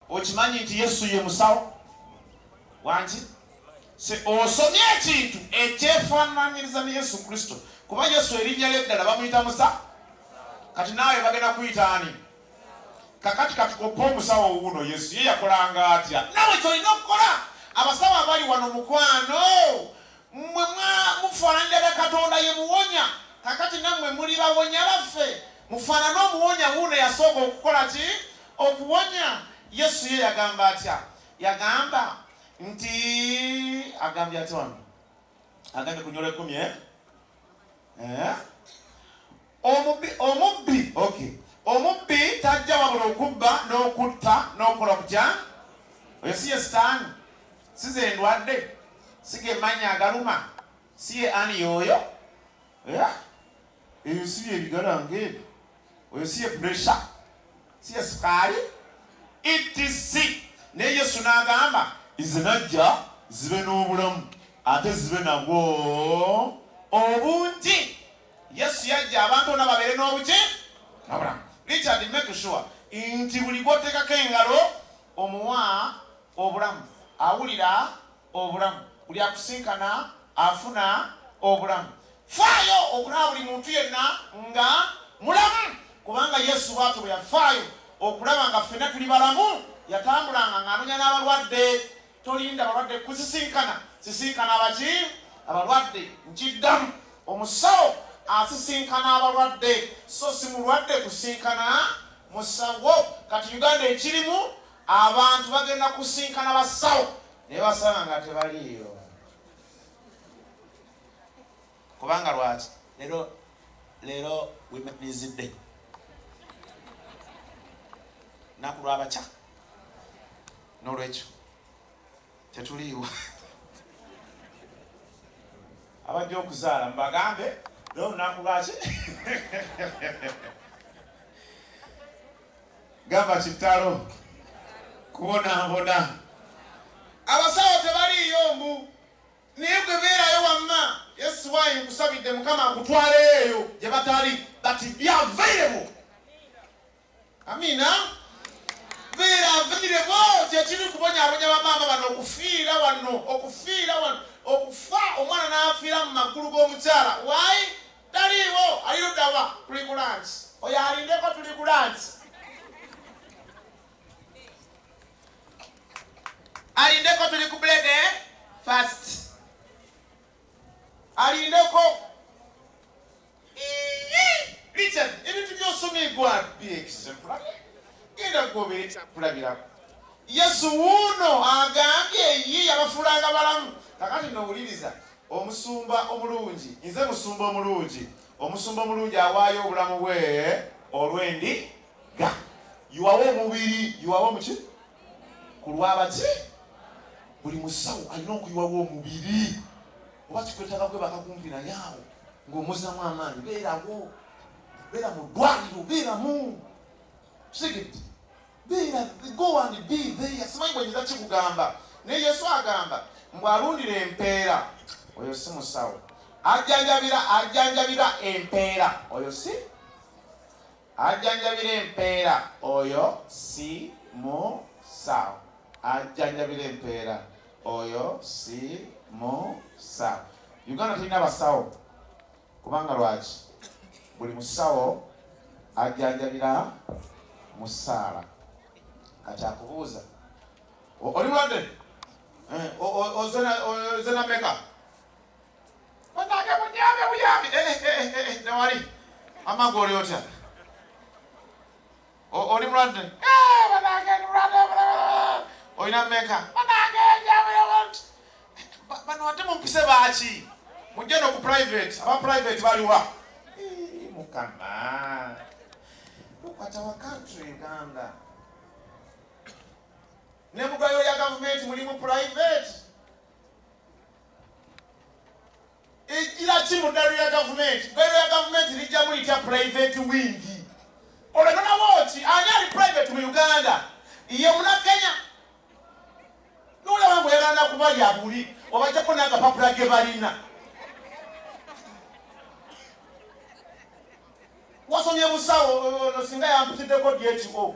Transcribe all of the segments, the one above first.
okimanyi nti yesu ye musawo wangi osomye ekintu ekyefaananyiriza ne yesu kristo kuba yesu erinnya lyeddala bamuyita musa kati naawe bagenda kuyita ani kakati katukopa omusawo wuuno yesu ye yakolanga atya nawe kyolina okukola abasawo abali wano mukwano mwe mufaananiraga katonda ye muwonya kakati nammwe muli bawonya baffe mufaanane omuwonya wuuno yasooka okukola ki Okuwonya, Yesu ye yagamba atya? Yagamba nti agambye atya wano? Agambye ku nyola ekumi eh? eh? Omubbi, omubbi, okay. Omubbi tajja wabula okubba n'okutta n'okola kutya? Oyo si ye sitaani, si ze ndwadde, si ge mannya agaluma, si ye ani yooyo yeah? Ebyo si bye bigala ng'ebyo. Oyo si ye puresha, si ye sukaali, etc. Naye Yesu n'agamba nze najja zibe n'obulamu ate zibe nabwo obungi. Yesu yajja abantu bona babeere n'obuki n'obulamu. Richard, make sure nti buli gw'oteekako engalo omuwa obulamu, awulira obulamu. Buli akusinkana afuna obulamu. Faayo okulaba buli muntu yenna nga mulamu, kubanga Yesu bw'atyo bwe yafaayo okulaba nga ffenna tuli balamu. Yatambulanga ng'anonya n'abalwadde. Tolinda balwadde kukusisinkana, sisinkana abaki? Abalwadde. Nkiddamu, omusawo asisinkana abalwadde, so si mulwadde kusinkana musawo. Kati Uganda ekirimu! Abantu bagenda kusinkana basawo naye basanga nga tebaliiyo kubanga lwaki lero lero wimenizidde naku lwabakya nolwekyo tetuliiwo abajja okuzaala mubagambe naye olunaku lwaki gamba kitalo kubonabona abasawo tebaliiyo mbu naye gwe beerayo wamma yesu wayi nkusabidde mukama akutwaleyo eyo gye batali but be available amina beera aviireko kyekiri kubonyabonya bamaama bano okufiira wano okufiira wano okufa omwana n'afiira mu maggulu g'omukyala wayi taliiwo alirudawa tuli ku lansi oyo alindeko tuli ku lansi alindeko tuli ku bulede fast alindeko Richard ebintu byosoma egwano birekisemula genda gobera ekyakulabirako yesu wuuno agambye ye yabafulanga balamu kakati nowuliriza omusumba omulungi nze musumba omulungi omusumba omulungi awaayo obulamu bwe olwendi ga yuwawo omubiri yuwawo muki ku lwabaki buli musawo alina okuyiwawo omubiri oba kikwetaga kwe bakakumpi naye awo ng'omuzamu amaanyi beerawo beera mu ddwaliro beeramu sigiti beera go and be there simanyi bwenyinza kikugamba naye yesu agamba mbu alundira empeera oyo si musawo ajjanjabira ajjanjabira empeera oyo si Ajjanjabira empeera oyo si musawo. Ajjanjabira empeera oyo si musawo. Uganda tulina abasawo kubanga lwaki buli musawo ajjanjabira musaala kati akubuuza oli mulwadde eh, ozena meka Banange munyambe buyambi eh, eh, eh, newali amagwe oli otya oli mulwadde banange ndi mulwadde olina meka banange njabulewoti bano ate mumpise baaki mujje no ku private aba private baliwa mukama tukwata wa country uganda ne mugayo ya gavumenti mulimu private ejjira ki mu ddalu ya gavumenti ddalu ya gavumenti lijjamu litya private wingi olwononawo ki ani ali private mu uganda ye munakenya nolaba mbu yagana kuba yabuli obajjako nagapapula ge balina wasomye busawo singa yampitiddeko dyekiko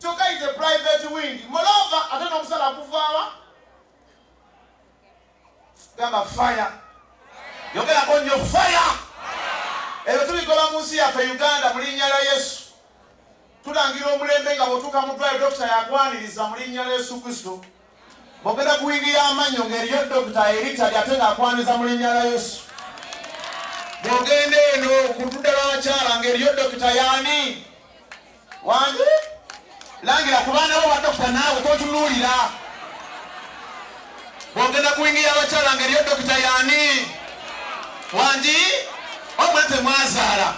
kyokka is a private wing mulova ate nomusala guvaawa gamba fire yogerako nyo fire ebyo tubigoba mu nsi yaffe uganda mu linnya lya yesu tulangira omulembe nga bwotuuka mu ddwaliro dokita yakwaniriza mu linnya lya yesu kristo Bogera ku wigi y'amannyo ng'eriyo dokita eritali ate ng'akwaniza mu linnya lya Yesu. Bw'ogenda eno ku ludda lw'abakyala ng'eriyo dokita y'ani? Wangi langira ku baana bo badokita naawe totunuulira. Bw'ogenda ku wingi y'abakyala ng'eriyo dokita y'ani? Wangi. wamwe temwazaala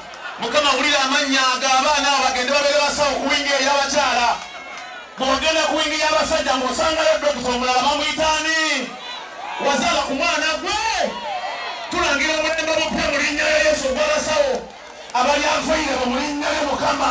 mukama wulira amannya ago abaana abo bagende babeere basawo ku wingi eyabakyala bwogenda ku wingi y'abasajja ng'osangayo dokita omulala bamuyitaani wazaala ku mwana gwe tulangira omulembe mupya mu linnya lya yesu ogw'abasawo abalyanfuyire mu linnya lya mukama